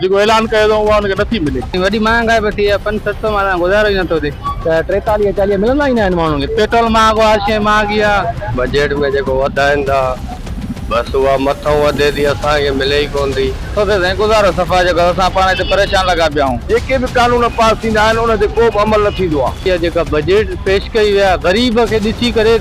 جيڪو اعلان ڪيو اٿئون اها هن کي نٿي ملي. وڏي مهانگائي به ٿي آهي پنج ست سؤ مان گذارو ئي نٿو ٿئي. ته ٽيتاليهه چاليهه ملندا ئي ناهن ماڻهن کي. پيٽرول مهانگو هر شيء مهانگي آهي. بجيٽ ۾ جيڪو وڌائين ٿا بس اها مٿئون وڌي ٿي اسان کي ملي ئي ڪونه ٿي. ڇو ٿي سائين گذارو صفا جيڪو آهي اسان پاڻ هتي پريشان لڳا پيا آهون. جيڪي به قانون پاس ٿيندا آهن ان تي ڪو به عمل نه ٿيندو آهي. اها جيڪا بجيٽ پيش ڪئي وئي آهي غريب کي ڏسي ڪري.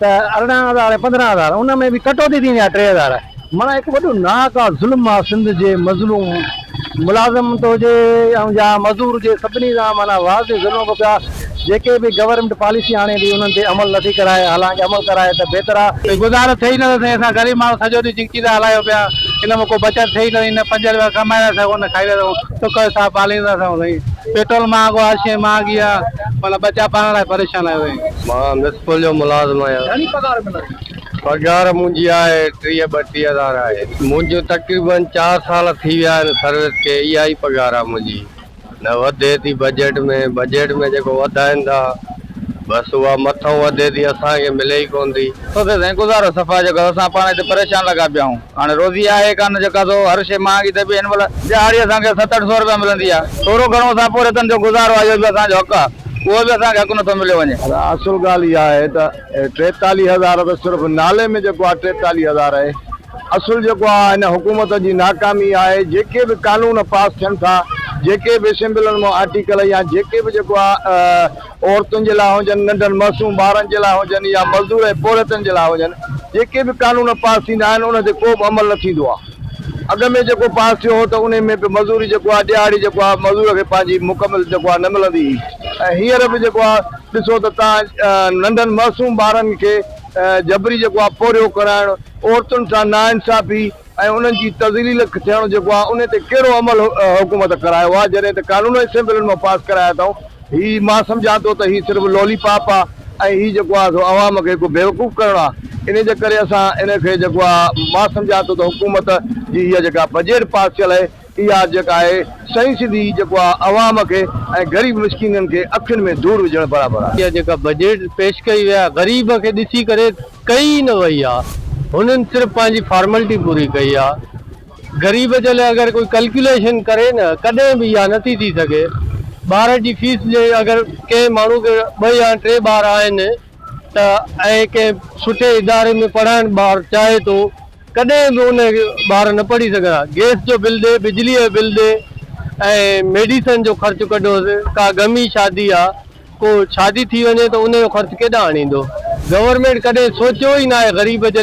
ته ارڙهن هزار ۽ پندرهن هزار ان ۾ به ڪٽوتي ٿيندي آهي ٽي هزار معنيٰ هڪ وڏو ناحق آ ظلم آ سنڌ جي مظلوم ملازم ته هجي ۽ يا مزور هجي سڀني سان معنيٰ واضح ظلم به پيا جيڪي به گورنمينٽ پاليسي آڻي ٿي انهن تي عمل نٿي ڪرائي حالانڪ عمل ڪرائي ته بهتر آ. ڪي گذارو ٿئي ئي نٿو سائين اسان غريب ماڻهو سڄو ڏينهن جنڪي ٿا هلايو پيا ان مان ڪو بچت ٿئي ئي نٿي نه پنج روپيا ڪمائي ٿا سگهون نه کائي ٿا سگهون. سک سان ساهه پاليندا اٿئون سائين پيٽرول مهانگو آ هر شئي مهانگي آ معنيٰ ٻچا پالڻ لاء پريشان آهيون سائين. مان ميسپل جو ملازم آهيان گهڻي پگهار ملندي. پگهار منهنجي آهي ٽيهه ٻٽيهه هزار آهي منهنجو تقريبن چار سال ٿي ويا آهن سروس کي اها ئي پگهار آ منهنجي نه وڌي ٿي بجيٽ ۾ بجيٽ ۾ جيڪو وڌائين ٿا بس اها مٿئون وڌي ٿي اسان کي ملي ئي ڪونه ٿي. سوڌي سائين گذارو صفا جيڪو اسان پاڻ هتي پريشان لڳا پيا آهيون. هاڻي روزي آهي ڪانه جيڪا سو هر شيء مهانگي ٿئي پئي هن مهل ڏهاڙي اسان کي ست اٺ سو روپيا ملندي آهي ٿورو گهڻو اسان پورهيتن جو گذارو آهي اهو به اسان جو حق آهي اهو به اسان کي حق نٿو مليو وڃي. اصل ڳالهه اها آهي ته ٽيتاليهه هزار ته صرف نالي ۾ جيڪو آهي ٽيتاليهه هزار آهي اصل جيڪو آهي هن حڪومت جي ناڪامي آهي جيڪي به قانون پاس ٿين ٿا جيڪي به اسيمبلن مان آرٽيڪل يا جيڪي به جيڪو آهي عورتن جي لاء هجن، ننڍن معصوم ٻارن جي لاء هجن يا مزدور ۽ پورهيتن جي لاء هجن، جيڪي به قانون پاس ٿيندا آهن انهن تي ڪو به عمل نه ٿيندو آهي. اڳ ۾ جيڪو پاس ٿيو هو ته انهي ۾ به مزوري جيڪو آهي ڏهاڙي جيڪو آهي مزور کي پنهنجي مڪمل جيڪو آهي نه ملندي هئي ۽ هينئر به جيڪو آهي ڏسو ته توهان ننڍن معصوم ٻارن کي جبري جيڪو آهي پورهيو ڪرائڻ، عورتن سان ناانصافي، ۽ انهن جي تذليل ٿيڻ جيڪو آهي انهي تي ڪهڙو عمل حڪومت ڪرايو آهي جڏهن ته قانون اسيمبلين مان پاس ڪرايا اٿائون هي مان سمجهان ٿو ته هي صرف لولي پاپ آهي ۽ هي جيڪو آهي سو عوام کي هڪ بيوقوف ڪرڻ آهي انهي جي ڪري اسان انهي کي جيڪو آهي مان سمجهان ٿو ته حڪومت جي هيء جيڪا بجيٽ پاس ٿيل آهي اها جيڪا آهي سائين سڌي جيڪو آهي عوام کي ۽ غريب مسڪينن کي اکين ۾ ڌوڙ وجهڻ برابر آهي. اها جيڪا بجيٽ پيش ڪئي وئي آهي غريب کي ڏسي ڪري ڪئي ئي نه وئي آهي هنن صرف پنهنجي فارملٽي پوري ڪئي آهي غريب جي لاء اگر ڪوئي ڪلڪيوليشن ڪري نه ڪڏهن به اها نٿي ٿي سگهي ٻارن جي فيس جي اگر ڪنهن ماڻهو کي ٻه يا ٽي ٻار آهن ته ۽ ڪنهن سٺي اداري ۾ پڙهائڻ ٻار چاهي ٿو ڪڏهن به ان ٻار نه پڙهي سگهن ها. گئس جو بل ڏي، بجليء جو بل ڏي ۽ ميڊيسن جو خرچ ڪڍوس، ڪا غمي شادي آ، ڪو شادي ٿي وڃي ته ان جو خرچ ڪيڏانهن آڻيندو. گورنمينٽ ڪڏهن سوچيو ئي ناهي غريب جي لاء